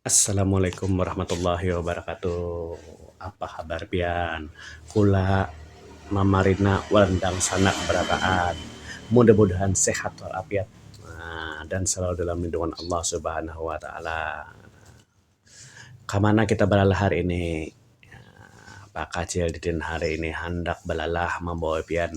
Assalamualaikum warahmatullahi wabarakatuh. Apa habar pian? Kula mamarina wan dangsanak barataan. Mudah-mudahan sehat wal afiat dan selalu dalam lindungan Allah Subhanahu wa taala. Kamana kita balalah hari ini? Pak Kacil didin hari ini handak balalah mambawa pian.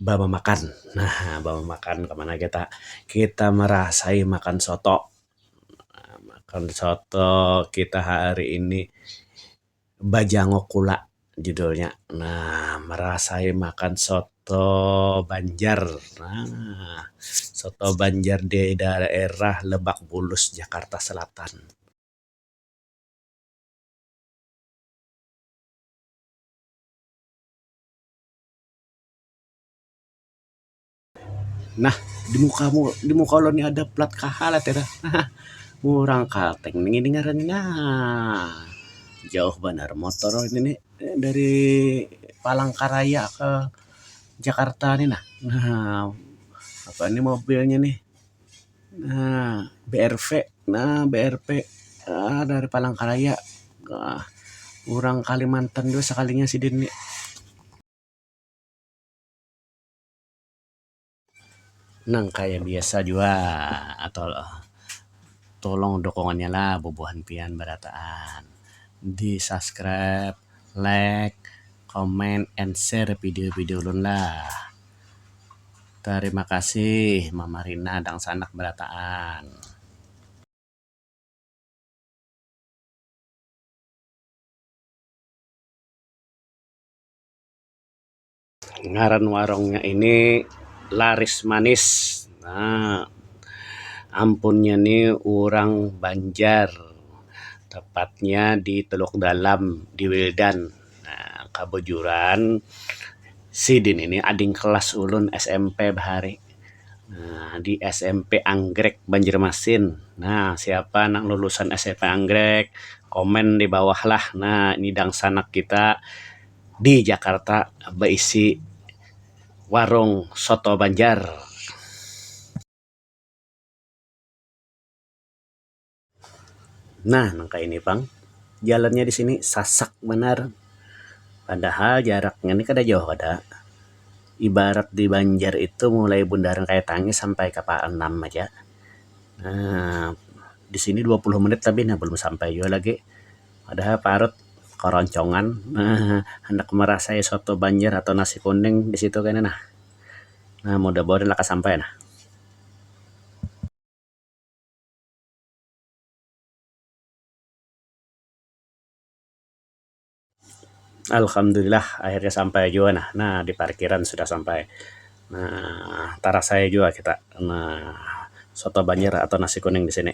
bamamakan. Nah, bamamakan ka mana kita? Kita marasai makan soto. Nah, makan soto kita hari ini bajanguk kula judulnya. Nah, marasai makan soto banjar. Nah, soto banjar di daerah Lebak Bulus, Jakarta Selatan. Nah, di muka mu, di muka ulun ni ada plat kaha lah tira. Murang kalteng nang ini ngarannya nah. Jauh banar motor ini ni dari Palangkaraya ke Jakarta ni nah. Nah, apa ni mobilnya nih. Nah, BRV. Nah, BRV. Ah, dari Palangkaraya. Ah, urang Kalimantan jua sakalinya sidin ni. Nang kaya biasa jua tolong dukungannya lah bubuhan pian barataan. Di subscribe, like, comment, and share video-video ulun lah. Tarima kasih mama Rina dangsanak barataan. Ngaran warungnya ini laris manis nah ampunnya ni urang banjar tepatnya di teluk dalam di wildan. Nah, kabujuran sidin ini ading kelas ulun smp bahari. Nah, di smp Anggrek Banjarmasin. Nah, siapa nang lulusan smp Anggrek komen di bawah lah. Nah, ini dangsanak kita di Jakarta baisi warung soto Banjar. Nah nang kaya ini pang jalannya di sini sasak banar padahal jaraknya ni kada jauh ada ibarat di banjar itu mulai bundaran kaya tangih sampai ka pa anam aja um di sini dua puluh menit labih nah balum sampai jua lagi padahal parut karoncongan um handak marasai soto banjar atau nasi kuning di situ kena nah um mudah-mudahan lakas sampai nah. Alhamdulillah akhirnya sampai jua nah, nah di parkiran sudah sampai nah tarasai jua kita nah soto banjar atau nasi kuning di sini.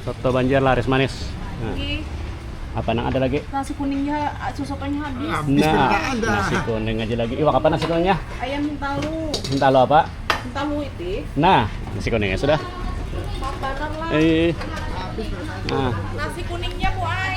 Soto Banjar laris manis. Nah. Apa nang ada lagi? Nasi kuningnya, ah, sosotonya habis. Nah, nasi kuning aja lagi. Iwak apa nasi kuningnya? Ayam hintalu. Hintalu apa? Hintalu itu. Nah, nasi kuningnya sudah. Paparan lah. Eh. Nah. Nasi kuningnya bu ay.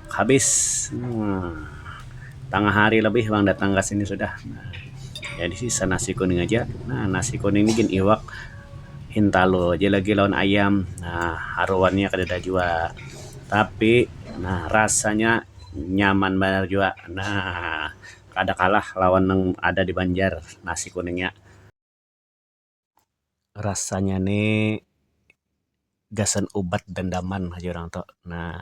habis tangah hari lebih pang datang ka sini sudah jadi sisa nasi kuning aja nah nasi kuning ni gin iwak hintalu aja lagi lawan ayam um haruan nya kadada jua tapi um rasanya nyaman banar jua um kada kalah lawan nang ada di banjar nasi kuning nya. rasanya ne gasan ubat dandaman jar urang tu nah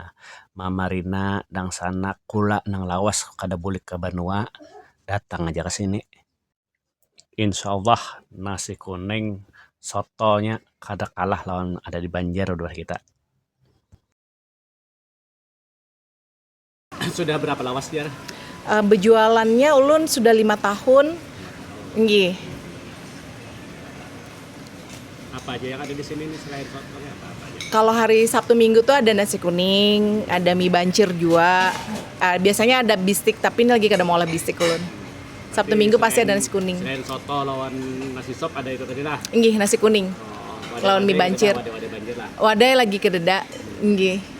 mamarina dangsanak kula nang lawas kada bulik ka banua datang aja ka sini insyaallah nasi kuning soto nya kada kalah lawan ada di banjar udah kita. Sudah berapa lawas jar? Uh, bejualannya ulun sudah lima tahun. Nggih. Apa aja yang ada di sini nih selain sotonya apa, apa aja? Kalau hari Sabtu Minggu tuh ada nasi kuning, ada mie bancir juga. Uh, biasanya ada bistik tapi ini lagi kada mau olah bistik ulun. Sabtu Minggu selain, pasti ada nasi kuning. Selain soto lawan nasi sop ada itu tadi lah. Nggih, nasi kuning. Oh, lawan mie bancir. Wadai, wadai, wadai, wadai lagi kededa. Nggih.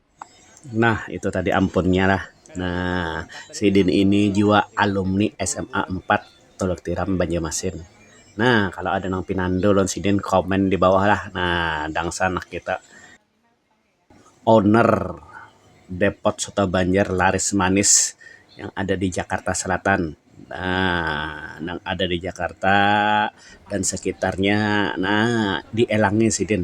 Nah itu tadi ampunnya lah. Nah sidin ini jua alumni sma empat Tuluk Tiram Banjarmasin. Nah kalo ada nang pinandu lawan sidin komen di bawah lah. Nah dangsa anak kita owner depot soto banjar laris manis yang ada di Jakarta Selatan. Nah nang ada di Jakarta dan sekitarnya nah dielangi sidin.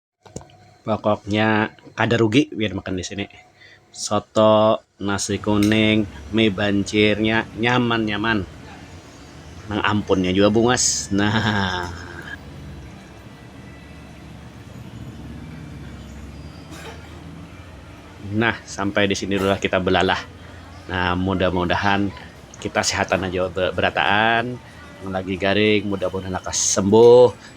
Pokoknya kada rugi pian makan di sini. Soto, nasi kuning, mi bancirnya nyaman-nyaman. Nang ampunnya jua bungas. Naaah. Nah, sampai di sini dulu lah kita belalah. Nah, mudah-mudahan kita sehatan aja berataan. Nang lagi garing mudah-mudahan lakas sembuh.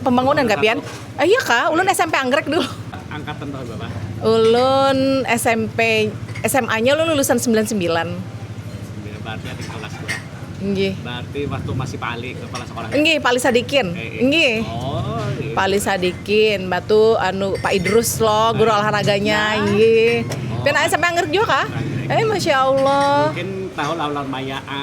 pembangunan ka pian? Iya kah, ulun smp anggrek dulu. Angkatan tahun berapa? Ulun smp, sma nya ulun lulusan sembilan sembilan. Sembilan berarti adik kelas gua. Nggih. Berarti waktu masih Pak Ali kepala sekolah. Nggih, Pak Ali Sadikin. Nggih. Oh, iya. Pak Ali Sadikin, batu anu Pak Idrus lo, guru olahraganya. Nggih. Pian anak smp anggrek jua kah? Eh, masya Allah. Mungkin tahun lawan maya a.